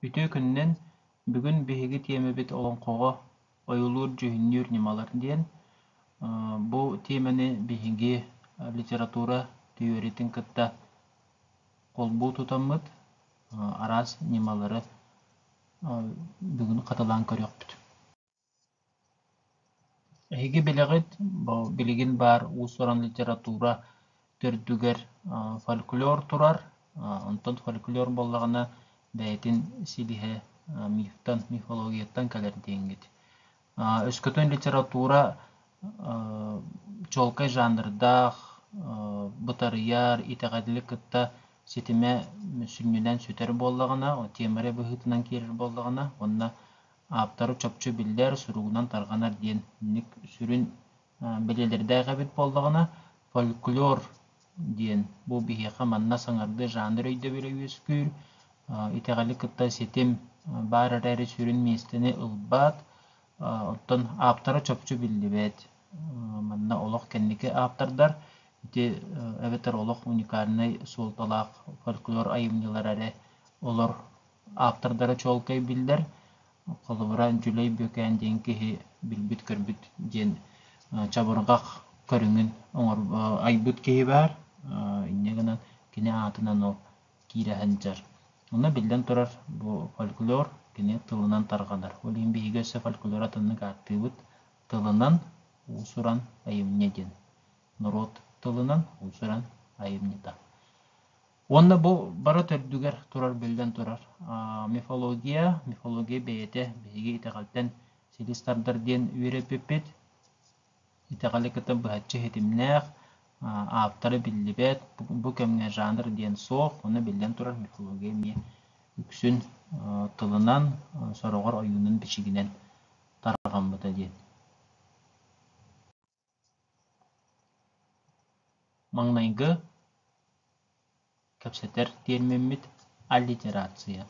Үтүө күннэн, бүгүн биһиги тиэмэбит олоҥхоҕо ойуулуур-дьүһүннүүр ньымалар диэн. Бу тиэмэни биһиги литература тириэритин кытта холбуу тутаммыт араас ньымалары бүгүн хатылаан көрүөхпүт. Эһиги билэҕит, билигин баар уус-уран литература төрдүгэр фольклор турар, онтон фольклор буоллаҕына бэйэтин силиһэ мифтан, мифологияттан кэлэр диэҥҥит. Өскөтүн литература чуолкай жанрдаах, бытарыйар, итэҕэлли кытта ситимэ сүнньүнэн сүтэр буоллаҕына, темаря быһыытынан киирэр буоллаҕына уонна ааптары чопчу биллэр, суругунан тарҕанар диэн инник сүрүн бэлиэлэрдээх эбит буоллаҕына, фольклор диэн бу биһиэхэ манна саҥардыы жанр өйдөбүлэ үөскүүр. Итэҕэли кытта ситим баар эрээри сүрүн миэстэни ылбат. Оттон ааптара чопчу биллибэт. Манна олох кэнники ааптардар ити эбэтэр олох уникальнай суолталаах фольклор айымньылара эрэ олор Ааптардара чуолкай биллэр. Холобура, Дьүлэй Бүөкээн диэн киһи билбит-көрбүт диэн чабырҕах көрүҥүн оҥор айбыт киһи баар. Инньэ гынан кини аатынан ол киирэ сылдьар. Онно биллэн турар, бу фольклор кини тылынан тарҕанар. Ол иһин биһиги өссө фольклор атыннык ааттыыбыт тылынан уус-уран айымньы диэн. Норуот тылынан уус-уран айымньыта. Уонна бу бара төрдүгэр турар биллэн турар мифология, мифология бэйэтэ биһиги итэҕэлтэн силис тардар диэн үөрэппиппит. Итэҕэли кытта быһаччы иһитимнээх, ааптара биллибэт, бу кэмҥэ жанр диэн суох, уонна биллэн турар мифология эмиэ үксүн тылынан, сороҕор ойуунун бичигинэн тарҕаммыта диэн. Маҥнайгы кэпсэтэр тиэрмиммит аллитерация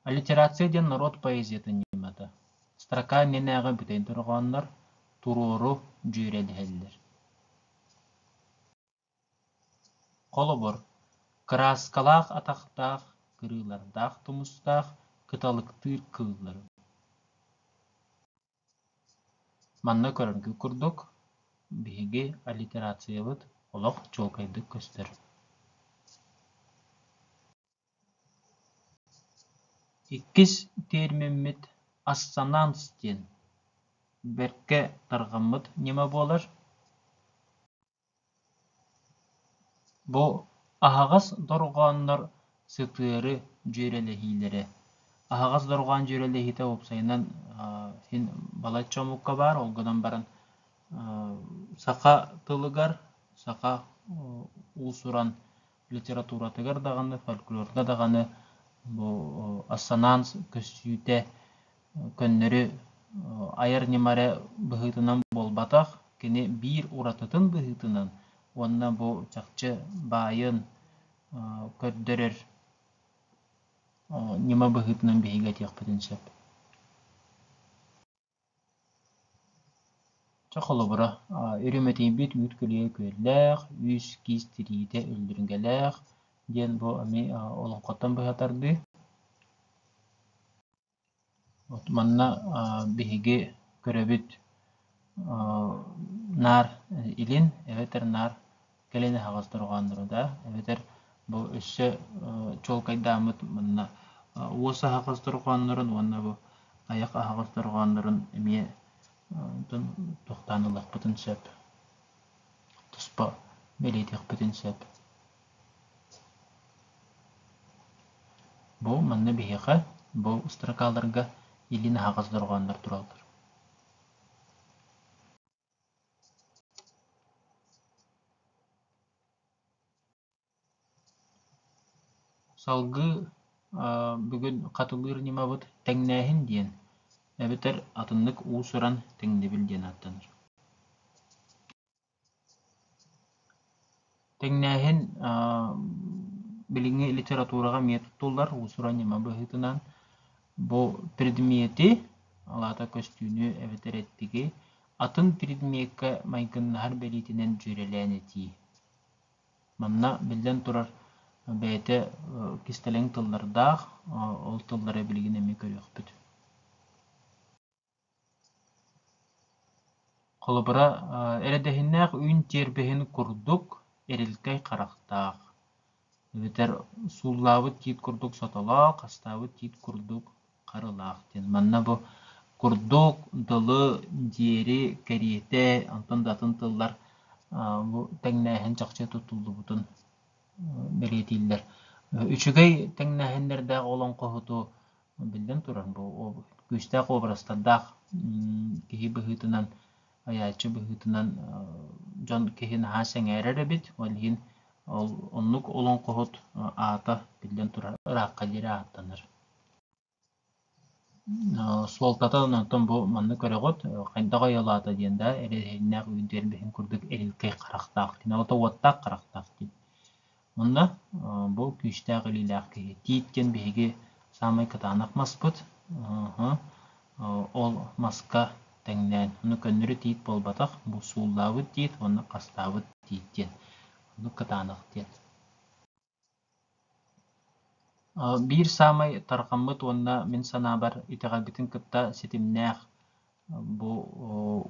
Аллитерация диэн норуот поэзиятын ньымата. Строка иннинээҕи бүтэй дорҕооннор туруору дьүөрэлэһэллэр Холобур, кырааскалаах атахтаах, кырыылардаах тумустаах кыталыктыыр кыыллары Манна көрөргө курдук, биһиги аллитерациябыт олох чуолкайдык көстөр Иккис тиэрмиммит ассонанс диэн бэркэ тарҕаммыт ньыма буолар. Бу аһаҕас дорҕооннор сытыары дьүөрэлэһиилэрэ. Аһаҕас дорҕоон дьүөрэлэһиитэ уопсайынан син балачча омукка баар, ол гынан баран саха тылыгар, саха уусуран литературатыгар даҕаны, фольклорга даҕаны бу ассонанс көстүүтэ көннөрү айар ньыма эрэ быһыытынан буолбатах, кини биир уратытын быһыытынан уонна бу чахчы баайын көрдөрөр ньыма быһыытынан биһиги этиэхпитин сөп Чэ, холобура, Иримэтийбит үүт көлүйэ күөллээх, үс-киис тириитэ үллүргэлээх диэн бу эмиэ олоҥхоттон быһа тардыы. Манна биһиги көрөбүт наар илин эбэтэр наар кэлин аһаҕас дорҕоон турда эбэтэр бу өссө чуолкайдааммыт манна уос аһаҕас дорҕооннорун уонна бу айах аһаҕас дорҕооннорун эмиэ тохтоон ылыахпытын сөп туспа бэлиэтиэхпитин сөп бу манна биһиэхэ бу строкаларга илин аһаҕас дорҕооннор тураллар Салгыы бүгүн Хатылыыр ньымабыт тэҥнээһин диэн эбэтэр атыннык уус-уран тэҥнэбил диэн ааттанар Тэҥнээһин билиҥҥи литератураҕа эмиэ туттуллар уусуран ньыма быһыытынан бу предмети, ол аата көстүүнү эбэтэр эттиги атын предмеккэ майгыннаһар бэлиитинэн дьүөрэлээн этии. Манна, биллэн турар, бэйэтэ кистэлэҥ тыллардаах, ол тыллары билигин эмиэ көрүөхпүт. Холобура, эрэдэһиннээх үүн тиэрбэһин курдук эрилкэй харахтаах, эбэтэр сууллаабыт тиит курдук сотолоох, астаабыт тиит курдук харылаах диэн. Манна бу курдук дылы, диэри, кэриэтэ, онтон да атын тыллар бу тэҥнээһин чахчы тутуллубутун бэлиэтииллэр. Үчүгэй тэҥнээһиннэрдээх олоҥхоһуту Биллэн турар, бу күүстээх уобарастардаах киһи быһыытынан, айааччы быһыытынан дьон киһи наһаа сэҥээрэр эбит. Ол иһин ол оннук олоҥхоһут аата биллэн турар ыраахха диэри ааттанар. Суолтата онтон бу манна көрөҕүт, хайдах айылаата диэн да эрэһииннээх үүн тиэрбэһин курдук эрилкэй харахтаах, киниэхэ уоттаах харахтаах диэн. Онно бу күүстээх илиилээх киһи Тиит диэн биһиги саамай кытаанах маспыт. Ол маска тэҥнээн, ону көннөрү тиит буолбатах, бу сууллаабыт тиит уонна хастаабыт тиит диэн. Оннук кытаанах диэн. Биир саамай тарҕаммыт уонна мин санаабар итэҕэлбитин кытта ситимнээх бу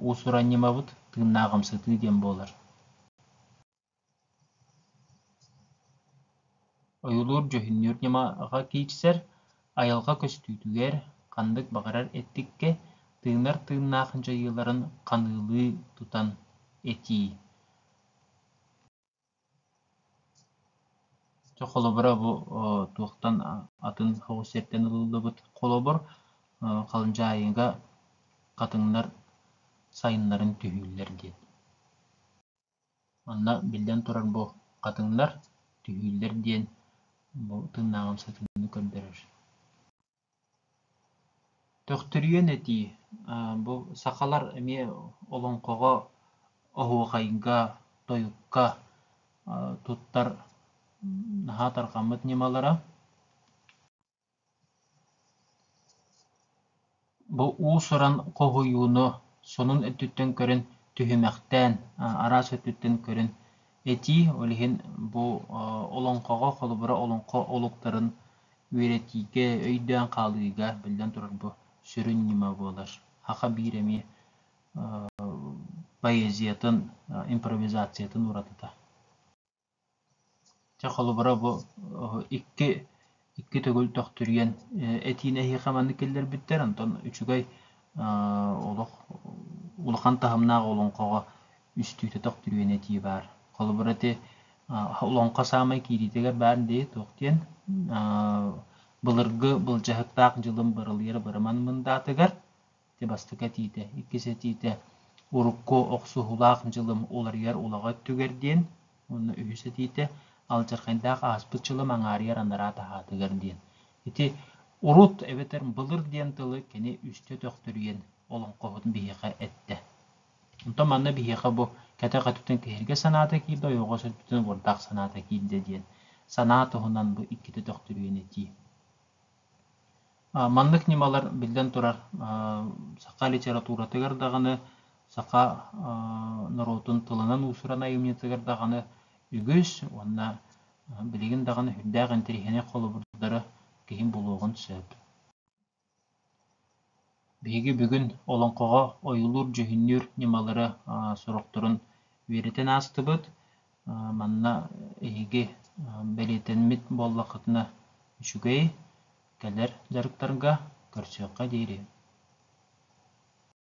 уусуранньымабыт тыыннаах амсатыы диэн буолар. ойуулуур дьүһүннүүр ньыма аҕа киирсэр айылҕа көстүүтүгэр ханнык баҕарар эттиккэ тыынар тыыннаах дьайыыларын ханыылыы тутан этии чэ холобура бу туохтан атын соҕус сиртэн ылыллыбыт холобур халдьаайыга хатыҥнар сайыннарын түһүүллэр диэн Онно, биллэн турар, бу хатыҥнар, түһүүлэр диэн бу тыыннааҕым сатыыны көрдөрөр Төхтүрүйэн этии. Бу сахалар эмиэ олоҥхоҕо, оһуохайга, тойукка туттар наһаа тарҕаммыт ньымалара. Бу уус-уран хоһуйууну сонун өттүттэн көрөн түһүмэхтээн, араас өттүттэн көрөн этии, ол иһин бу олоҥхоҕо, холобура, олоҥхо олуктарын үөрэтиигэ, өйдөөн хаалыыга, биллэн турар, бу сүрүн ньыма буолар. Саха биир эмиэ поэзиятын, импровизациятын уратыта. Чэ, холобура бу икки икки төгүл төхтүрүйэн этиини эһиэхэ маннык киллэрбиттэр, онтон үчүгэй олох улахан таһымнаах олоҥхоҕо үстүүтэ төхтүрүйэн этии баар. Холобура ити олоҥхо саамай киириитигэр баарын дии туох диэн былыргы былдьаһыктаах дьылым бырылыйар бырыман мындаатыгар ити бастакы этиитэ, иккис этиитэ урукку охсуһуулаах дьылым уларыйар улаҕа өттүгэр диэн, уонна үһүс этиитэ алдьархайдаах ааспыт дьылым аҥаарыйар анараа таһаатыгар диэн. Ити урут эбэтэр былыр диэн тылы кини үстэ төхтүрүйэн олоҥхоһутун биһиэхэ эттэ. Онтон манна биһиэхэ бу кэтэх өттүттэн киһиргэ санаата киирдэ, ойоҕос өттүттэн уордаах санаата киирдэ диэн. Санаа туһунан бу иккитэ төхтүрүйэн этии. Маннык ньымалар, биллэн турар, саха литературатыгар даҕаны, саха норуотун тылынан уусуран айымньытыгар даҕаны үгүс уонна билигин даҕаны үрдээх интэриэһинэй холобурдары киһи булуоҕун сөп. Биһиги бүгүн олоҥхоҕо ойуулуур-дьүһүннүүр ньымалары сорохторун үөрэтэн аастыбыт. Манна эһиги бэлиэтэммит буоллаххытына үчүгэй, кэлэр дьарыктарга көрсүөххэ диэри.